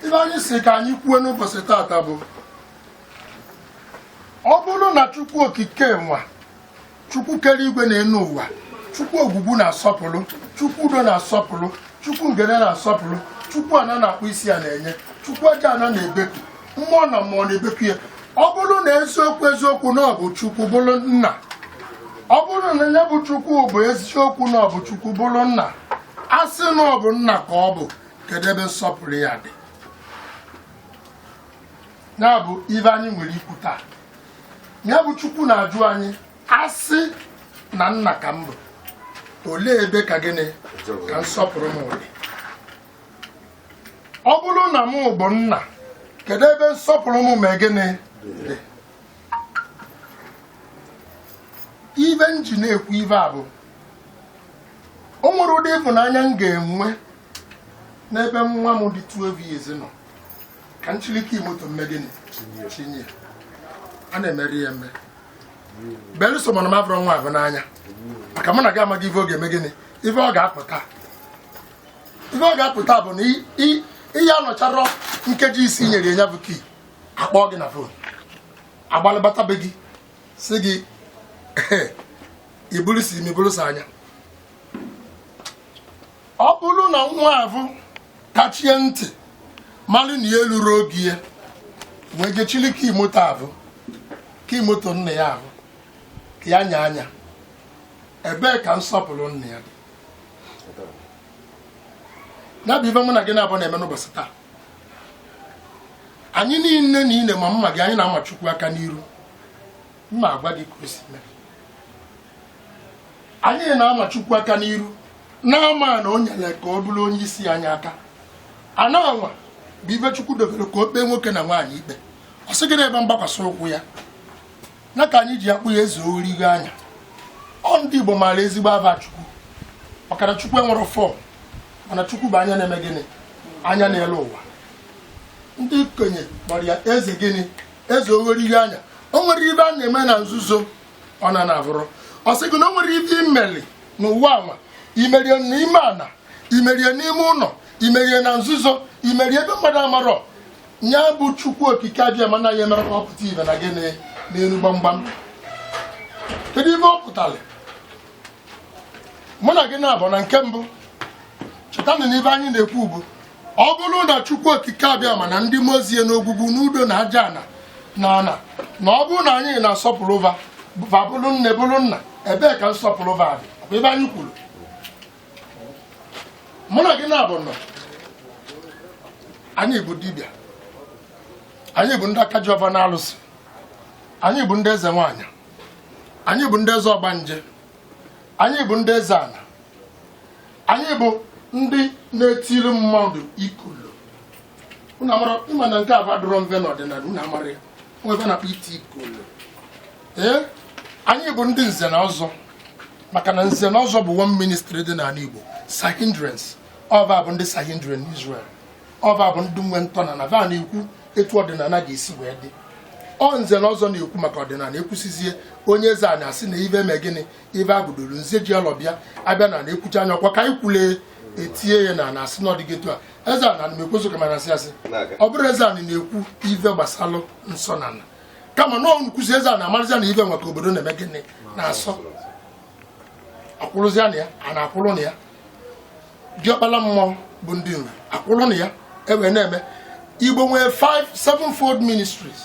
ive anyị sị ka anyị kwuo n'ụbọchị tata bụ ọ bụrụ na chukwu okike nwa chukwu kere igwe na enu ụwa chukwu ogwugwu na-asọpụrụ chukwu udo na-asọpụrụ chukwu ngene na-asọpụrụ chukwu ana na-akpọ isi ana enye chukwu aja ana na-ebeku mmụọ na mmụọ na-ebeku ya ọ bụrụ na eziokwu eziokwu na ọ bụ chukwu bụrụ nna ọ bụrụ na nya bụ chukwu bụ eziokwu na ọ bụ chukwu bụrụ nna a sị na ọ bụ nna ka ọ bụ kedu ebe nsọpụrụ ya dị ya bụ ive anyị nwere ikwu taa ya bụ chukwu na-ajụ anyị a sị na nna ka m bụ olee ebe ka gịnị ka nsọpụrụ m dị ọ bụrụ na m bụ nna kedu ebe nsọpụrụ m mee gịnị dị ive m ji na-ekwu ive a bụ o nwerọ ụdị ịfụnanya m ga-enwe n'ebe nwa m dị 12 years nọ ka m chili kii moto m mee gịnị chinye ya a na-emerọ ya eme belụsọ ma na m avụrọ nwa ahụ n'anya maka mụ na gị amaghị ife ọ ga-eme gịnị ife ọ ga-apụta ife ọ ga-apụta bụ na i- i- ị ya-anọcharọ nkeji ise i nyere ya bụ kii a kpọọ gị na fon agbalị bata be gị sị gị iburu si imi bụrụsa anya ọ bụrụ na nwa avụ kachie ntị malụ na ya elurọ oge ya wee je chili kii moto avụ kii moto nna ya ahụ ka ya nya anya ebee ka nsọpụrụ nna ya dị ya bụ ife mụ na gị naabọ na-eme n'ụbọchị taa anyị niine niine ma m ma gị anyị na-ama chukwu aka n'iru m ma agwa gị ka o si mee anyị na-ama chukwu aka n'iru na-ama ana o nyere ka ọ bụrụ onye isi anyị aka ana anwa bụ ive chukwu dobere ka o kpee nwoke na nwaanyị ikpe ọ sị gị na ebe mgbakwasị ụkwụ ya na ka anyị ji akpọ ya eze oghorigo anya ọ ndị Igbo maara ezigbo ava Chukwu maka na Chukwu enwerọ fọm mana Chukwu bụ anya na-eme gịnị anya na-ele ụwa ndị okenye kpọrọ ya eze gịnị eze oghorigo anya o nwerọ ive a na-eme na nzuzo ọ na na-avụrọ ọ sị gị na o nwerọ ive i meli n'ụwa anwa i meri ya n'ime ana i meri ya n'ime ụnọ i meri ya na nzuzo i meri ya ebe mmadụ amarọ ya bụ chukwu okike abịama anaghị emere ka ọ pụta ive na gịnị n'elu gbamgbam kedu ive ọ pụtara mụ na gị naabọ na nke mbụ cheta na ive anyị na-ekwu bụ ọ bụrụ na chukwu okike abịama na ndị mmụọ ozi ya n'ogwugwu n'udo na aja ana na ana na ọ bụrụ na anyị na-asọpụrụ va bụrụ nne bụrụ nna ebee ka nsọpụrụ va dị ive anyị kwuru mụ na gị na-abụ nọ anyị bụ dibịa anyị bụ ndị aka ji ọvọ na alụsị anyị bụ ndị eze nwaanyị anyị bụ ndị eze ọgbanje anyị bụ ndị eze ana anyị bụ ndị na-etiri mmadụ ikolo unu amarọ ịma na nke avụ adịrọ mve n'ọdịnala unu amarọ ive a na-akpọ iti ikolo ee anyị bụ ndị nze na ọzọ maka na nze na ọzọ bụ one ministry dị n'ala Igbo Sanhedrins ọ va bụ ndị Sanhedrin Israel ọ va bụ ndị nwe ntọana va na-ekwu etu ọdịnala ga-esi wee dị ọ nze na ọzọ na-ekwu maka ọdịnala ekwusizie onye eze ana asị na ive eme gịnị ive abụdoro nze ji alọ bịa abịa na na-ekwucha anya ọkwa ka anyị kwule etinye ya na na-asị na ọdịgị etu a eze ana na-ekwezo ka mana asị asị ọ bụrụ eze ana na-ekwu ive gbasalụ nsọ ana kama na nkwụzi eze ana amarịzịa na ive nwa ka obodo na-eme gịnị na-asọ akwụrụzịa na ya a na-akwụrụ na ya diọkpala mmụọ bụ ndị nri akwụrụ na ya ewee na-eme igbo nwere 5 sevenfold ministries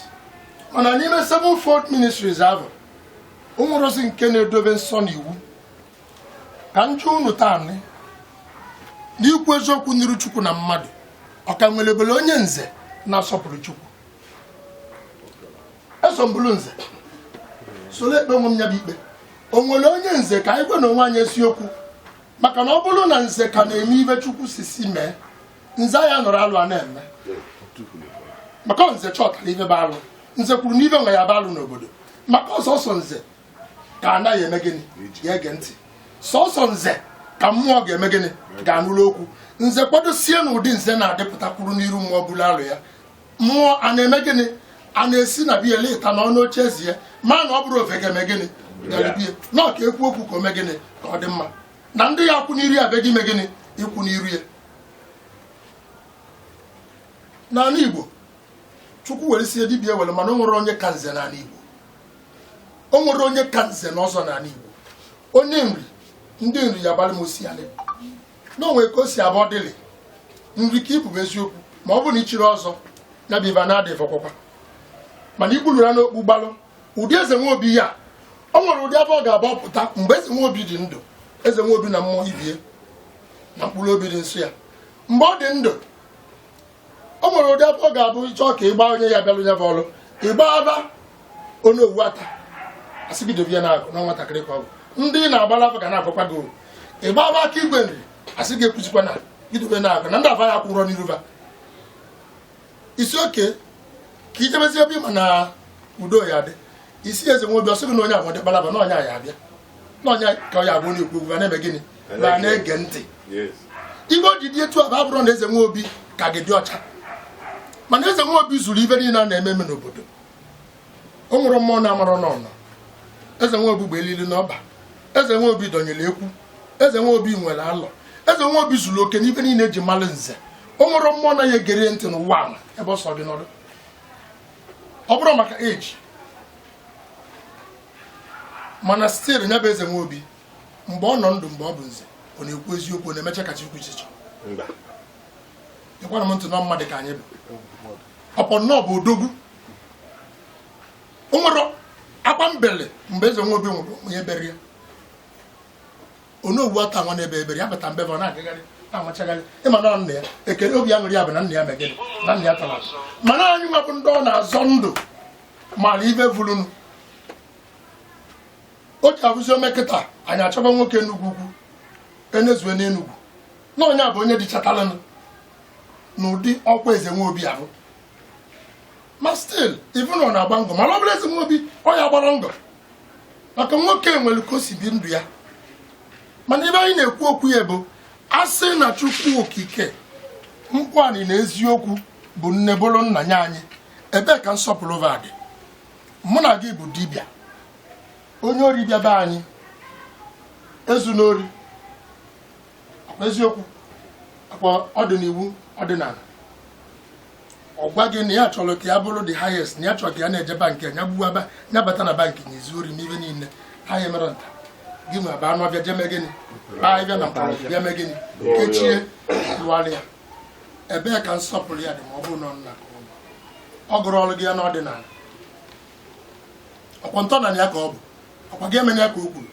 mana n'ime sevenfold ministries ahụ o nwerọzi nke na-edobe nsọ na iwu ka m jụọ unu taa n'ikwu eziokwu n'iru chukwu na mmadụ ọ ka nwere ebele onye nze na-asọpụrụ chukwu eso m bụrụ nze soro ekpe onwe m ya bụ ikpe o nwere onye nze ka anyị gwanụ onwe anyị eziokwu maka na ọ bụrụ na nze ka na-eme ive chukwu sị sị mee nze ya nọrọ alụ a na-eme maka nze chọtara ive bụ alụ nze kwuru na ive nwa ya-abụ alụ n'obodo maka ọ sọsọ nze ka ana ya-eme gịnị ya-ege ntị sọsọ nze ka mmụọ ga-eme gịnị ga-anụrụ okwu nze kwadosie na ụdị nze na-adịpụta kwụrụ n'iru mmụọ buru alọ ya mmụọ a na-eme gịnị a na-esi na bịa leta na ọnụ oche ezi ya ma na o buru ọvọ ga-eme gịnị bịarubie na ọ ka ekwu okwu ka o mee gịnị ka ọ dị mma na ndị ya akwụ n'iru ya be gị ime gịnị ịkwụ n'iru ya n'anị igbo chukwu weresie dibịa ewere mana o nwere onye ka nze n'anị igbo o nwere onye ka nze na ọzọ n'anị igbo onye nri ndị nri ya-agbalị m ọsịalị na o nwe ka o si abụ ọ dịlị nri ka ibube eziokwu ma ọ bụ na ichiri ọzọ ya bụ ibe a na-adịghị fọkwakwa mana ikwuluru ya n'okpu gbalụ ụdị eze nwe obi ya o nwere ụdị ava ọ ga-agbapụta mgbe eze nwe obi dị ndụ eze nwe obi na mmụọ ibie na mkpụrụ obi dị nsọ ya mgbe ọ dị ndụ o nwere ụdị ava ọ ga-abụ ị chọọ ka ịgba onye ya bịalụ ya bụ ọrụ ịgba ava onye owu ata asị gị dobe ya na na nwatakịrị ka ọ bụ ndị ị na-agbara ava ga na-agwakwa gị owu ịgba ava aka igwe nri asị gị ekwuzikwa na idobe na agụ na ndị ava ya kwụrọ n'iru va isi oke ka ijebezi ebe ịma na udo ya dị isi eze nwe obi ọ sị gị na onye avụ dị kpalaba na onye ya abịa na onye ka ọ ya abụ onye ekwu okwu na-eme gịnị na na-ege ntị ive o ji dị etu avụ abụrọ na eze nwa obi ka gị dị ọcha mana eze nwa obi zuru ive niile a na-eme eme n'obodo o nwere mmụọ na-amara n'ụnọ eze nwa obi gba elili n'ọkpa eze nwa obi dọnyere ekwu eze nwa obi nwere alọ eze nwa obi zuru oke n'ive niile eji malụ nze o nwere mmụọ na ya egere ntị n'ụwa ala ebe ọ sọ gị n'ọrụ ọ bụrụ maka eji mana stil ya bụ eze nwa obi mgbe ọ nọ ndụ mgbe ọ bụ nze ọ na-ekwu eziokwu ọ na-emecha ka chukwu ichiche ịkwara m ntị na mmadụ ka anyị bụ ọpọ nnọọ bụ odogwu o nwerọ akwa m beli mgbe eze nwa obi nwụrụ onye bere ya onowu ata nwa na-ebe ebere ya bata mbe ọ na-agagharị na-amachagharị ịma na nna ya ekele obi aṅụrị ya bụ na nna ya megịnị na nna ya tara mana anyị nwa bụ ndị ọ na-azọ ndụ mara ive vulunu o ji abụzi o mee kịta anyị achọba nwoke enugwu ukwu enezue n'enugwu na onye a bụ onye dịchatalanụ n'ụdị ọkwa eze nwa obi ahụ ma stil ị vụ na ọ na-agba ngọ mana ọ bụrụ eze nwa obi ọ ya-agbarọ ngọ maka nwoke nwere ka o si bi ndụ ya mana ive anyị na-ekwu okwu ya bụ asị na chukwu okike nkwani na eziokwu bụ nne bụrụ nna nye anyị ebee ka nsọpụrụ va dị mụ na gị bụ dibịa onye ori bịa be anyị ezu n'ori eziokwu ọkwa ọ dị n'iwu ọdịnala ọ gwa gị na ya chọrọ ka ya bụrụ the highest na ya chọrọ ka ya na-eje bankị ya gbuwaba ya bata na bankị na-ezu ori ive niile ha ya mere nta gị nwe aba anụ ọbịa jeme gịnị baa ịbịa na mkpọrọ bịa mee gịnị kechie lụgharị ya ebee ka nsọpụrụ ya dị ma ọ bụrụ na ọ nna ka ụlọ ọ gụrụ ọrụ gị ya n'ọdịnala ọkwa ntọnala ya ka ọ bụ ọkwa gị emena ya ka o kwuru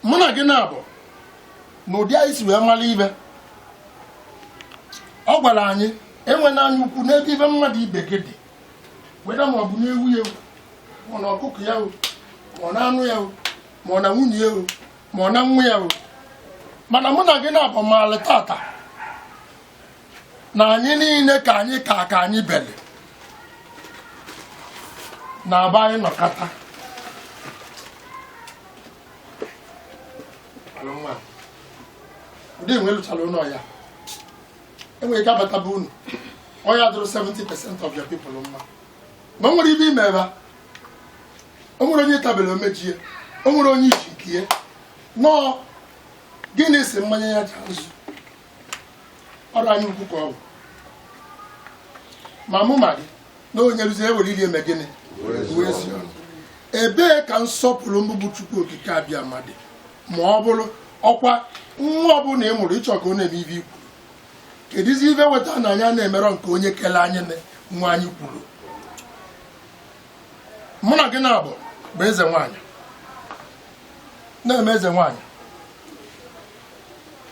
mụ na gị na-abụ na ụdị anyị si wee mara ive ọ gwara anyị enwena anya ukwu n'ebe ive mmadụ ibe gị dị weda ma ọ bụ n'ewu ya o ma ọ na ọkụkọ ya o ma ọ na anụ ya o ma ọ na nwunye ya o ma ọ na nwa ya o mana mụ na gị na-abụ maalị tata na anyị niile ka anyị ka ka anyị bele na aba anyị nọkata ụdị enwe lụchara ụlọ ya enwere ike abataba unu ọ ya-adịrị 70 percent of your people mma ma nwere ive ime ebe o nwere onye tabere omeji ya o nwere onye iji nke ya nọọ gịnị si mmanya ya ji azụ ọrụ anyị ukwu ka ọ bụ ma mụ ma gị na onye rụzi ewere iri eme gịnị wee sị ụnụ ebee ka nsọpụrụ mụ bụ chukwu okike abịama dị ma ọ bụrụ ọkwa nwa ọbụla ị mụrụ ị chọ ka ọ na-eme ive i kwuru kedụzi ive weta na anyị na-emerọ nke onye kele anyị na nwa anyị kwuru mụ na gị na-abụ bụ eze nwaanyị na-eme eze nwaanyị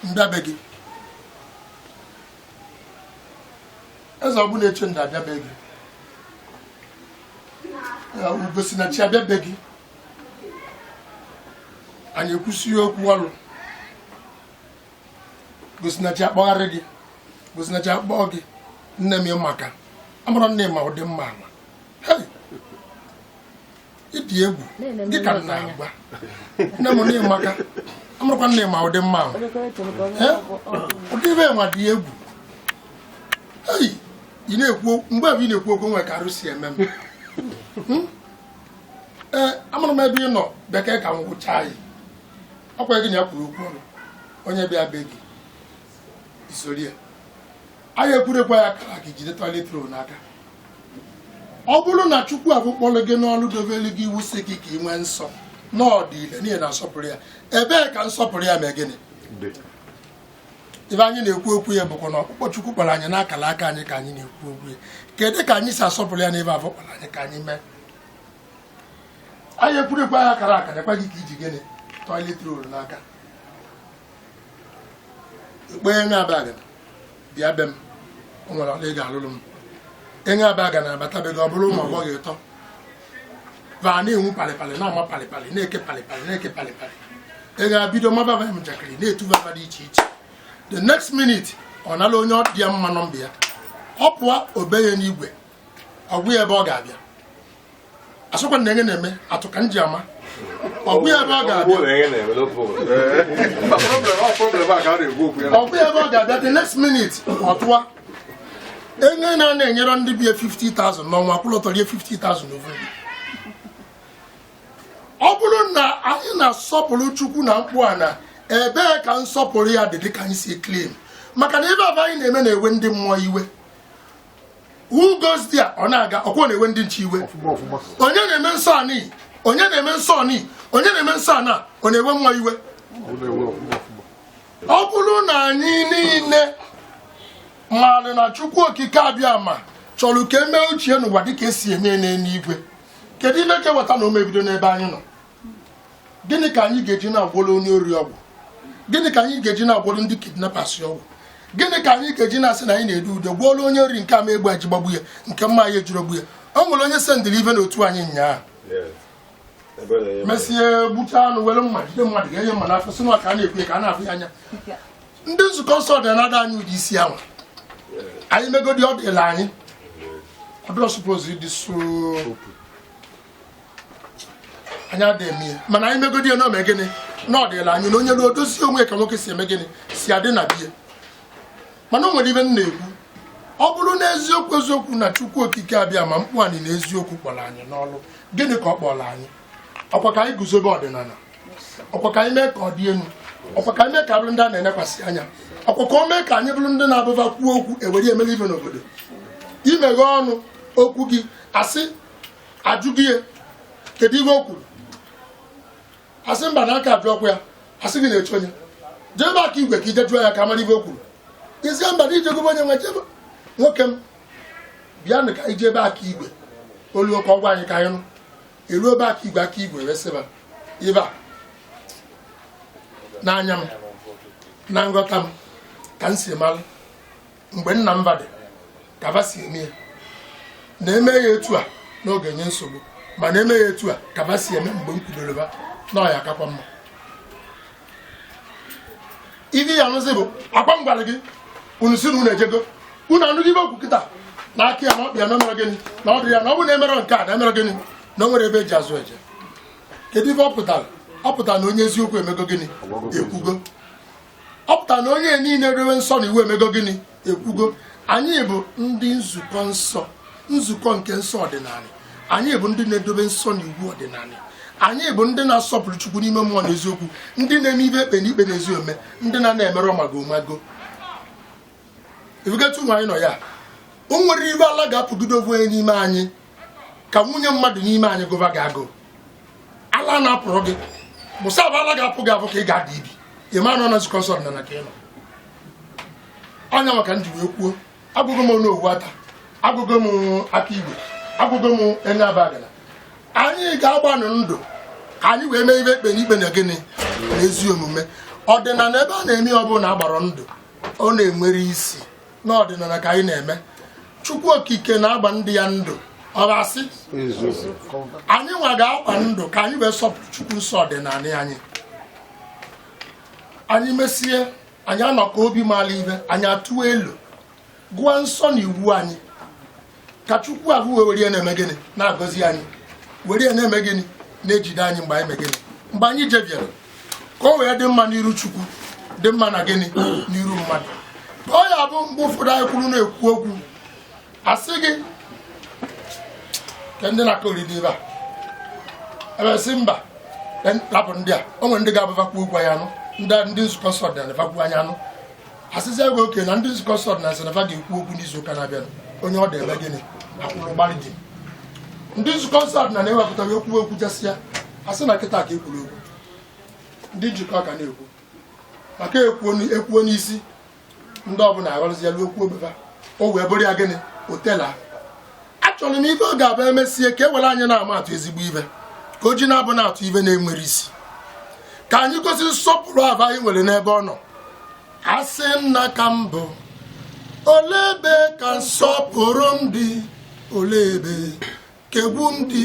m bịa be gị eze ọ bụla eche nda abịa be gị ugosinachi abịa be gị anyị ekwusi okwu ọrụ gosinachi akpọgharị gị gosinachi akpọọ gị nne m ị maka amarọ m na ị ma ụdị mma ama ị dị egwu gị ka na-agwa nne m nne ị maka amarọkwa m na ị ma ụdị mma ama ụdị ive nwa dị egwu ị na-ekwu mgbe avụ ị na-ekwu okwu nwe ka arụ si eme m hmm? ee amarọ m ebe ị nọ bekee ka m gwụchaa ya ọkwa gị na ya kwuru okwu ọrụ onye bịa be gị isori ya anyị ekwurekwa ya akara aka i jide toilet roll n'aka ọ bụrụ na chukwu avụ kpọrọ gị n'ọrụ dobere gị iwu sị gị ka ị nwee nsọ n'ụdị niile n'ihi na nsọpụrụ ya ebee ka nsọpụrụ ya mee gịnị ive anyị na-ekwu okwu ya bụkwa na ọkpụkpọ chukwu kpọrọ anyị n'akara aka anyị ka anyị na-ekwu okwu ya kedu ka anyị si asọpụrụ ya n'ive avụ kpọrọ anyị ka anyị mee anyị ekwurekwa ya akara aka nekwa gị ka i ji gịnị toilet roll n'aka ekpenye nwa abaga bịa be m o nwere ọlụ ị ga-alụrụ m anyị abaga na abata be gị ọ bụrụ ụmụ agbọghọ ịtọ va na-enwu palịpalị na-ama palịpalị na-eke palịpalị na-eke palịpalị ị ga-abido maba va njakịrị na-etu va ava dị iche iche the next minute ọ nala onye ọ dị ya mma nọmba ya ọ pụọ obe ya n'igwe ọ gwa ya ebe ọ ga-abịa asịkwa na anyị na-eme atụ ka m ji ama ọ gwa ya ebe ọ ga-abịa ọ gwa ya ebe ọ ga-abịa the next minute ọ tụwa onye na na-enyerọ ndị be ya 50,000 n'ọnwa kwụlọtọ rie 50,000 n'ofu ọ bụrụ na anyị na-asọpụrụ chukwu na mkpu a na ebee ka nsọpụrụ ya dị dịka anyị si claim maka na ive avụ anyị na-eme na-ewe ndị mmụọ iwe who goes there ọ na-aga ọkwọ na-ewe ndị nche iwe onye na-eme nsọ anị onye na-eme nsọ anị onye na-eme nsọ ana ọ na-ewe mmụọ iwe ọ bụrụ na anyị niile maara na chukwu okike abiama chọrọ ka emee uche ya n'ụwa dịka esi eme n'eluigwe kedu ihe ka eweta na ọ ma-ebido n'ebe anyị nọ gịnị ka anyị ga-eji na-agwọrọ onye ori ọgwụ gịnị ka anyị ga-eji na-agwọrọ ndị kidnappers ọgwụ gịnị ka anyị ga-eji na-asị na anyị na-ede ude gwọrọ onye ori nke ama egbe eji gbagbu ya nke mma ya ejirọ gbu ya o nwere onye sendịrị ive n'otu anyị nyaa mesie gbucha anụ were mma jide mmadụ ga-enye mma n'afọ si na ka a na-ekwu ya ka a na-afụ ya anya ndị nzukọ nsọ ọdịnala anyị ụdị isi anwa anyị megodi ọ dịla anyị ọ dịrọ supposed ịdị so anyị adịghị eme ya mana anyị megodi ya na ọ mee gịnị na ọ dịla anyị na onye ruo dozie onwe ka nwoke si eme gịnị si adị na biya mana o nwere ive m na-ekwu ọ bụrụ na eziokwu eziokwu na chukwu okike abiama kpụ anyị na eziokwu kpọrọ anyị n'ọrụ gịnị ka ọ kpọrọ anyị ọkwa ka anyị guzobe ọdịnala ọkwa ka anyị mee ka ọ dị elu ọkwa ka anyị mee ka bụrụ ndị a na-enekwasị anya ọkwa ka o mee ka anyị bụrụ ndị na-abụ ba kwuo okwu ewere emere ive n'obodo imeghe ọnụ okwu gị asị ajụ gị ihe kedu ihe o kwuru asị mba na aka ajụ ọkwa ya asị gị na echi i jee ebe aka igwe ka ije jụọ ya ka amara ihe o kwuru ị sị mba na i jego be onye nwe jebe nwoke m bịa nụ ka ije ebe aka igwe oluo ka ọ gwa anyị ka anyị nụ eluo ebe aka igwe aka igwe wee sị ba ive a n'anya m na nghọta m ka m si mara mgbe nna m ba dịka ba si eme ya na eme ya etu a na ọ ga-enye nsogbu ma na eme ya etu a ka ba si eme mgbe m kwudoro ba na ọ ya-akakwa mma ive ị ya-anụzi bụ ọkwa m gwara gị unu si na unu ejego unu anụghị ive o kwu kịta na aka ya na ọkpịa na emere gịnị na ọ dịrị ya na ọ bụ na emere nke a na emere gịnị na o nwere ebe eji azụ eje kedu ife ọ pụtara ọ pụtara na onye eziokwu emego gịnị ekwugo ọ pụtara na onye niile na-edobe nsọ na iwu emego gịnị ekwugo anyị bụ ndị nzukọ nsọ nzukọ nke nsọ ọdịnala anyị bụ ndị na-edobe nsọ na iwu ọdịnala anyị bụ ndị na-asọpụrụ chukwu n'ime mmụọ na eziokwu ndị na-eme ive ekpe na ikpe na ezi omume ndị na na-emerọ mago mago ị vụgetu nwaanyị nọ ya o nwere ive ala ga-apụgide ọ bụ n'ime anyị ka nwunye mmadụ n'ime anyị gụba gị agụụ ala na-apụrụ gị bụsa abụ ala ga-apụ gị ọ bụ ka ị ga-ada ibi ị ma na ọ na nzukọ nsọ ọdịnala ka ị nọ ọ nya maka m ji wee kwuo agwago m onowu ata agwago m aka igwe agwago m enyi abagana anyị ga-agbanụ ndụ ka anyị wee mee ive ekpe n'ikpe na gịnị na ezi omume ọdịnala ebe a na-eme ọ bụla agbara ndụ ọ na-enwere isi n'ọdịnala ka anyị na-eme chukwu okike na-agba ndị ya ndụ ọ ga-asị anyị nwa ga-agba ndụ ka anyị wee sọpụrụ chukwu nsọ ọdịnala anyị anyị mesie anyị anọkọ obi mara ibe anyị atụa elo gụọ nsọ na iwu anyị ka chukwu ahụ wee were ya na-eme gịnị na-agọzi anyị were ya na-eme gịnị na-ejide anyị mgbe anyị mee gịnị mgbe anyị jeviere ka o wee dị mma n'iru chukwu dị mma na gịnị n'iru mmadụ ọ ya bụ mgbe ụfọdụ anyị kwụrụ na-ekwu okwu a sị gị ka ndị na-akọ oriri ebe a e wee sị mba rapụ ndị a o nwere ndị ga-abụ va kwuo okwu anyị anụ ndị nzukọ nsọ ọdịnala va kwuo anyị anụ a sịzịa gị okay na ndị nzukọ nsọ ọdịnala sị na va ga-ekwu okwu n'izu ụka na-abịa onye ọ dị ebe gịnị akwụrụ gbalị dị ndị nzukọ nsọ ọdịnala wepụta okwu kwuchasịa a sị na kịta ka e kwuru okwu ndị njikọka na-ekwu maka ekwuo n'isi ndị ọbụla aghọrọzi ya ruo okwu obeba o wee bụrụ ya gịnị otela achọrọ m ive ọ ga-abụ e mesie ka e were anyị na-ama atụ ezigbo ive ka o ji na-abụ na-atụ ive na-enwerọ isi ka anyị gosi nsọpụrụ afụ anyị nwere n'ebe ọ nọ a sị nna ka m bụ olee ebe ka nsọpụrụ m dị olee ebe ka egwu m dị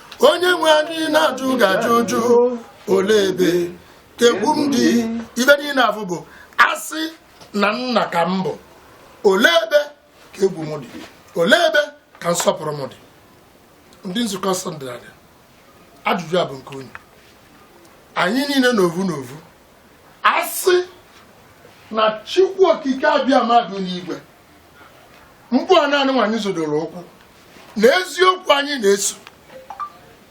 onye nwe anyị na-ajụ gị ajụjụ ole ebe ka egwu m dị ive niile afụ bụ a sị na nna ka m bụ ole ebe ka egwu m dị ole ebe ka nsọpụrụ m dị ndị nzukọ nsọ ọdịnala ajụjụ a bụ nke onye anyị niile n'ovu n'ovu a sị na chukwu okike abịama dị n'igwe kpụa ana nụnwa anyị zodoro ụkwụ na eziokwu anyị na-eso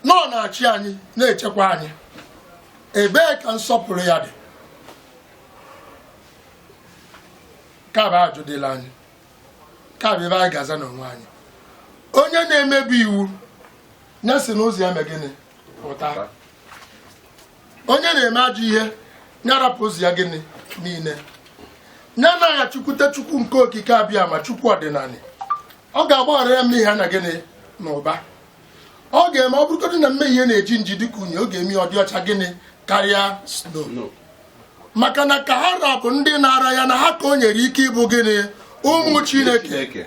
na ọ na-achị anyị na-echekwa anyị ebee ka nsọpụrụ ya dị ka bụ ajụjụ dịrị anyị ka bụ ive anyị ga-aza n'onwe anyị onye na-emebi iwu ya si n'ụzọ ya mee gịnị pụta onye na-eme ajọ ihe nya rapụ ụzọ ya gịnị niile nya naghachikwute chukwu nke okike abịama chukwu ọdịnala ọ ga-agbaghara ya mmehie na gịnị n'ụba ọ ga-eme ọ bụrụgodị na mmehie na-eji nji dịka unyi ọ ga-eme ya ọ dị ọcha gịnị karịa snow maka na ka ha ra bụ ndị naara ya na ha ka o nyere ike ịbụ gịnị ụmụ chineke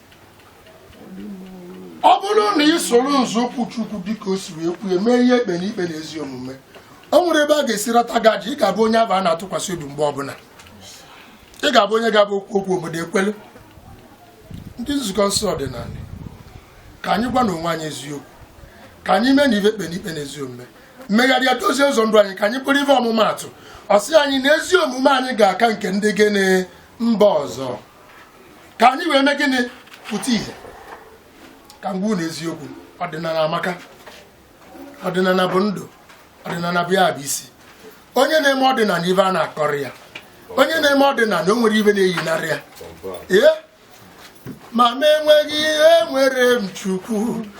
ọ bụrụ na ị soro nzọụkwụ Chukwu dịka o siri kwuo mee ihe ekpe n'ikpe na ezi omume o nwere ebe a ga-esi rata gaji ị ga-abụ onye aba a na-atụkwasị obi mgbe ọbụla ị ga-abụ onye ga-abụ o kwuo okwu obodo ekwelu ndị nzukọ nsọ ọdịnala ka anyị gwanụ onwe anyị eziokwu ka anyị meenụ ive ekpe n'ikpe na ezi omume megharịa dozie ụzọ ndụ anyị ka anyị bụrụ ive ọmụmaatụ ọ sị anyị na ezi omume anyị ga-aka nke ndị gịnị mba ọzọ ka anyị wee mee gịnị pụta ihe ka m gwa unu eziokwu ọdịnala amaka ọdịnala bụ ndụ ọdịnala bụ ya bụ isi onye na-eme ọdịnala ive a na-akọrọ ya onye na-eme ọdịnala o nwere ive na-eyinarị ya ee ma m enweghị ihe enwere m Chukwu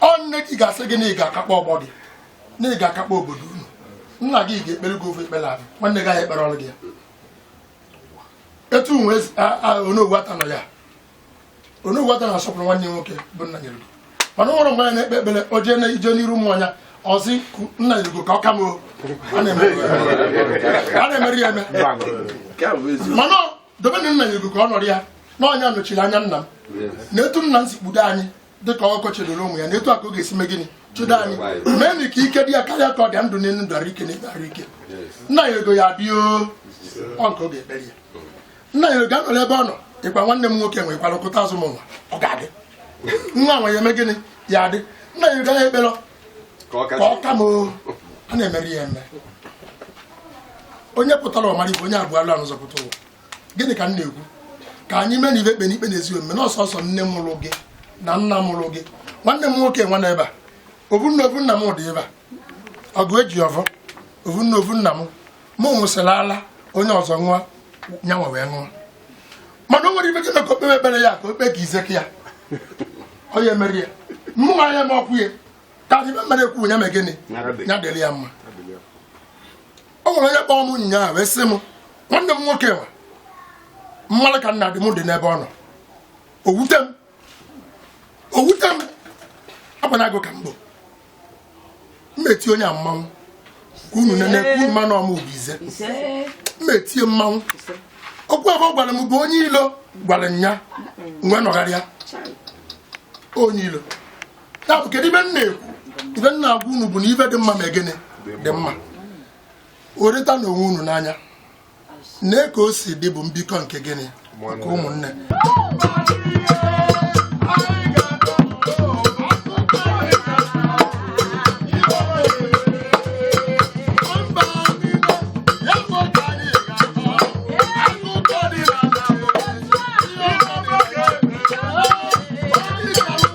ọ nne gị ga-asị gị na ị ga-akakpọ ọgbọ gị na ị ga-akakpọ obodo unu nna gị ga-ekpere gị ovu ekpere ahụ nwanne gị ahụ ekpere ọrụ gị ya etu nwe onowu ata nọ ya onowu ata na-asọpụrụ nwanne ya nwoke bụ nna nyere mana ụlọ mgbe ya na-ekpe ekpere o jee ije n'iru ụmụ anya ọ sị nna nyere ka ọ ka m a na-emeri ya eme mana dobe na nna nyere ka ọ nọrọ ya na ọ nya nọchiri anya nna m na etu nna m si kpudo anyị dịka ọkụkọ chedoro ụmụ ya na etu a ka ọ ga-esi mee gịnị chedo anyị meenụ ka ike dị ya karịa ka ọ dị ndụ n'elu ndụ arụ ike n'ebe arụ ike nna ya ego ya bịa ọ nke ọ ga-ekpere ya nna ya ego anọrọ ebe ọ nọ ịkwa nwanne m nwoke nwere kwara kụta azụ m nwa ọ ga-adị nwa nwa ya eme gịnị ya adị nna ya ego ya ekpere ka ọ ka m a na-emeri ya eme onye pụtara ọ mara ive onye abụọ alụ anụ zọpụta ụwa gịnị ka m na-ekwu ka anyị meenụ ive ekpe n'ikpe na ezi omume na ọ sọsọ nne mụrụ gị na nna mụrụ gị nwanne m nwoke nwa n'ebe a ovu nne ovu nna m dị ebe a ọgụ eji ọvọ ovu nne ovu nna m mụ ṅụsịrị ala onye ọzọ ṅụọ nyanwa wee ṅụọ mana o nwere ive gị ka o kpebe ekpere ya ka o kpe ka izeke ya onye mere ya mụ nwa ya ma ọkwụ ya ka ive m na-ekwu ya mee gịnị ya dịrị ya mma o nwere onye kpọọ m ụnyaahụ wee sị m nwanne m nwoke nwa mmadụ ka nna dị m dị n'ebe ọ nọ o wute m o wute m agbanago ka mbụ mmeti onye a mmanwụ ka unu nene ka unu manụ ọma obi ize mmetie mmanwụ ọkwa ive ọ gwara m bụ onye ilo gwara nya nwe nọgharịa onye ilo ya bụ kedu ife m na-ekwu ife m na-agwa unu bụ na ife dị mma ma gịnị dị mma hụrịtanụ onwe unu n'anya na ka o si dị bụ mbikọ nke gịnị nke ụmụnne